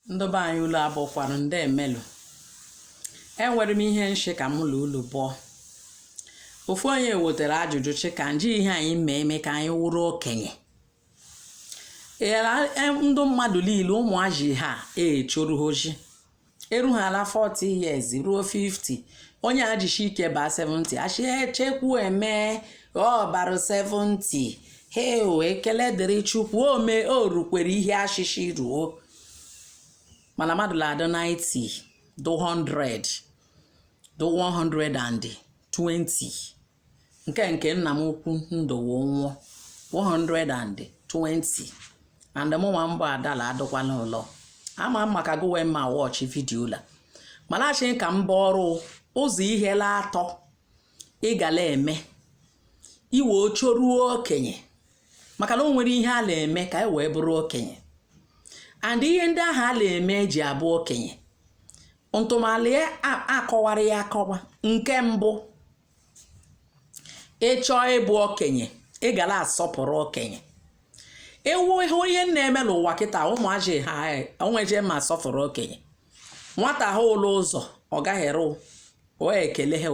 ndị be anyị ulu abụọkwanụ ndị emelụ enwere m ihe nshị ka mụ na ulu bụọ ofu onye wetara ajụjụ shị ka nji ihe anyị mee eme ka anyị wụrụ okenye Era- e- ndụ mmadụ niile ụmụaji ha echoro o ji eru ha ala 40 years ruo 50 onye ajishi ike baa 70 a shị echekwu eme ọ barụ 70 heo ekele dịrị Chukwu o me o rukwere ihe a shị shị ruo mana mmadụ na-adị 90 do 100 do 120 nke nke nna m ukwu ndụwo nwụọ 120 and mụnwa mbụ adala adọkwala ụlọ ama m maka gụnwa na-watch video la mana a shị ka m baa ọrụ ụzọ ihe la atọ ị ga na-eme i wee choruo okenye maka na o nwere ihe a na-eme ka anyị wee bụrụ okenye and ihe ndị ahụ a na-eme eji abụ okenye ntụmala ya akọwara ya akọwa nke mbụ ị chọọ ịbụ okenye ị ga na-asọpụrụ okenye ị hụ ihe na-eme n'ụwa kịta ụmụaji ha onweje ma asọpụrụ okenye nwata hụ la ụzọ ọ gaherụ o ekele ha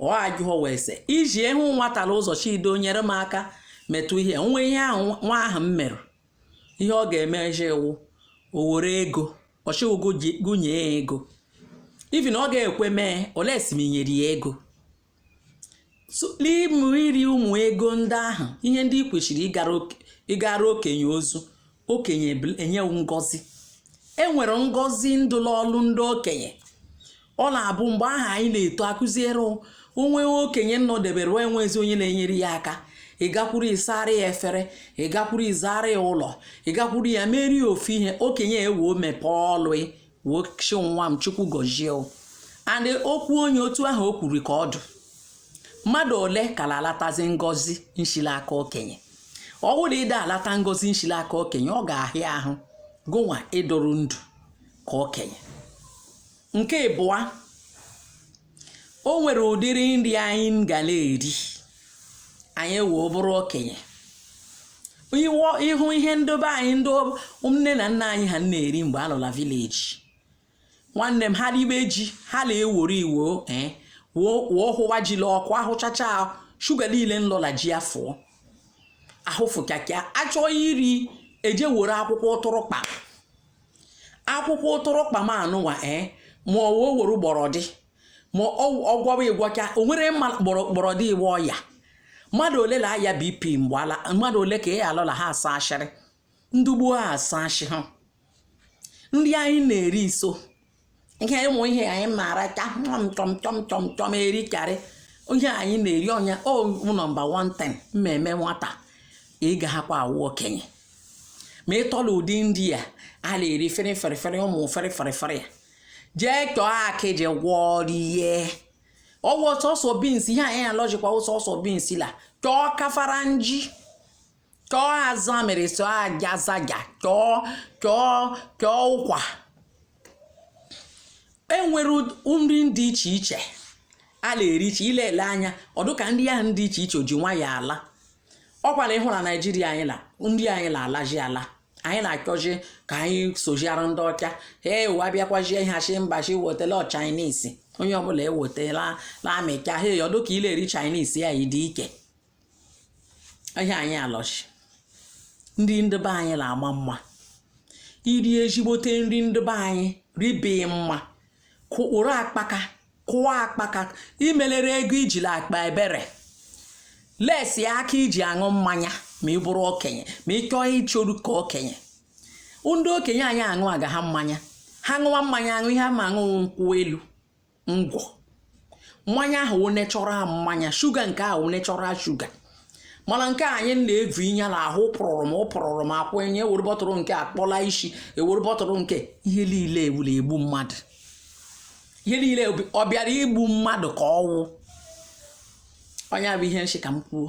ọ ajụọ wee sị i ji ahụ nwata la ụzọ shị do nyere m aka metụ ihe nwa ihe ahụ nwa ahụ m mere ihe ọ ga-eme eji iwu o were ego ọ shị wụ gụ nye ya ego even ọ ga-ekwe mee unless m nyere ya ego n'ịmụ iri ụmụ ego ndị ahụ ihe ndị ị kwesịrị ịgara okenye ozi okenye enye gụ ngọzi e nwere ngọzi ndụ n'ọlụ ndị okenye ọ na-abụ mgbe ahụ anyị na-eto akụziere onwe okenye nọdebere enwezi onye na-enyere ya aka ị gakwuru ịsara ya efere ị gakwuru ịzara ya ụlọ ị gakwuru ya merie ofu ihe okenye ewee mepee ọlụ wee shị nwa m Chukwu gọzie o and okwu onye otu ahụ o kwuru ka ọ dụ mmadụ ole ka la-alatazi ngọzi nshi l'aka okenye ọ bụrụ ị da alata ngọzi nshi l'aka okenye ọ ga-ahịa ahụ gụnwa ịdụrụ ndụ ka okenye nke ịbụa o nwere ụdịrị nri anyị ga na-eri anyị wee bụrụ okenye iwọ ị hụ ihe ndị be anyị ndị ọ- nne na nna anyị ha na-eri mgbe a nọ la village nwanne m ha ribe ji ha na-eworo iwo eh, wụọ wụọ hụwa ji la ọkụ ahụchacha sugar niile nọ la ji afụọ ahụfụkakịa a chọọ iri e je were akwụkwọ ụtụrụkpa akwụkwọ uturukpa ma anụnwa ee eh, ma ọ wee were gbọrọdị ma ọgwọwa ịgwọcha o nwere mma gbọrọdị iwe ọya mmadụ ole la-aya BP mgbe ala mmadụ ole ka ị alụla ha asa ashịrị ndị gboo ha asa ashị ha ndị anyị na-eri iso ihe ịmụ ihe anyị maara ka chọm chọm chọm chọm chọm erikarị ihe anyị na-eri ọnya o nọmba one ten mmemme nwata ị ga-ahakwa awụ okenye ma ị tọla ụdị ndị a a na-eri fere fere fere ụmụ fere fere fere ya jee chọọ akịdị gwọọ rie ọ wụ sọsọ beans ihe anyị alọjikwa sọsọ beans la chọọ kafara nji chọọ azụ amịrị sọ aja zaja chọọ chọọ chọọ ụkwa enwere nri dị iche iche a na-eri iche ile ele anya ọ dụ ka ndị ahụ dị iche iche o ji nwa ya ala ọkwa na ịhụ na naijiria anyị na ndị anyị na-alaji ala anyị na-achọzi ka anyị sojiara ndị ọcha ee ụwa bịakwazie ihe achị mba chi wetela Chinese onye ọbụla ewetela na amịcha he ọ dụ ka i la-eri Chinese anyị dị ike ihe anyị alọchi nri ndị be anyị la-ama mma i rie ezigbote nri ndị be anyị ribeghị mma mkpụrụ akpaka kụọ akpaka imelere ego ijiri akpa ebere lesi aka iji aṅụ mmanya ma ị bụrụ okenye ma ị chọọ ịchọru ka okenye ndị okenye anyị aṅụ aga ha mmanya ha ṅụwa mmanya aṅụ ihe ama aṅụ wụ nkwụ elu ngwọ mmanya ahụ wụ natural mmanya sugar nke ahụ wụ natural sugar mana nke anyị na-evu inya na ahụ pụrụrụ m ụpụrụrụ m akwụ enye ewere bọtụrụ nke akpọla isi ewere bọtụrụ nke ihe niile e wu la-egbu mmadụ ihe niile ọ bịara igbu mmadụ ka ọ wụ onye bụ ihe nshi ka m kwuo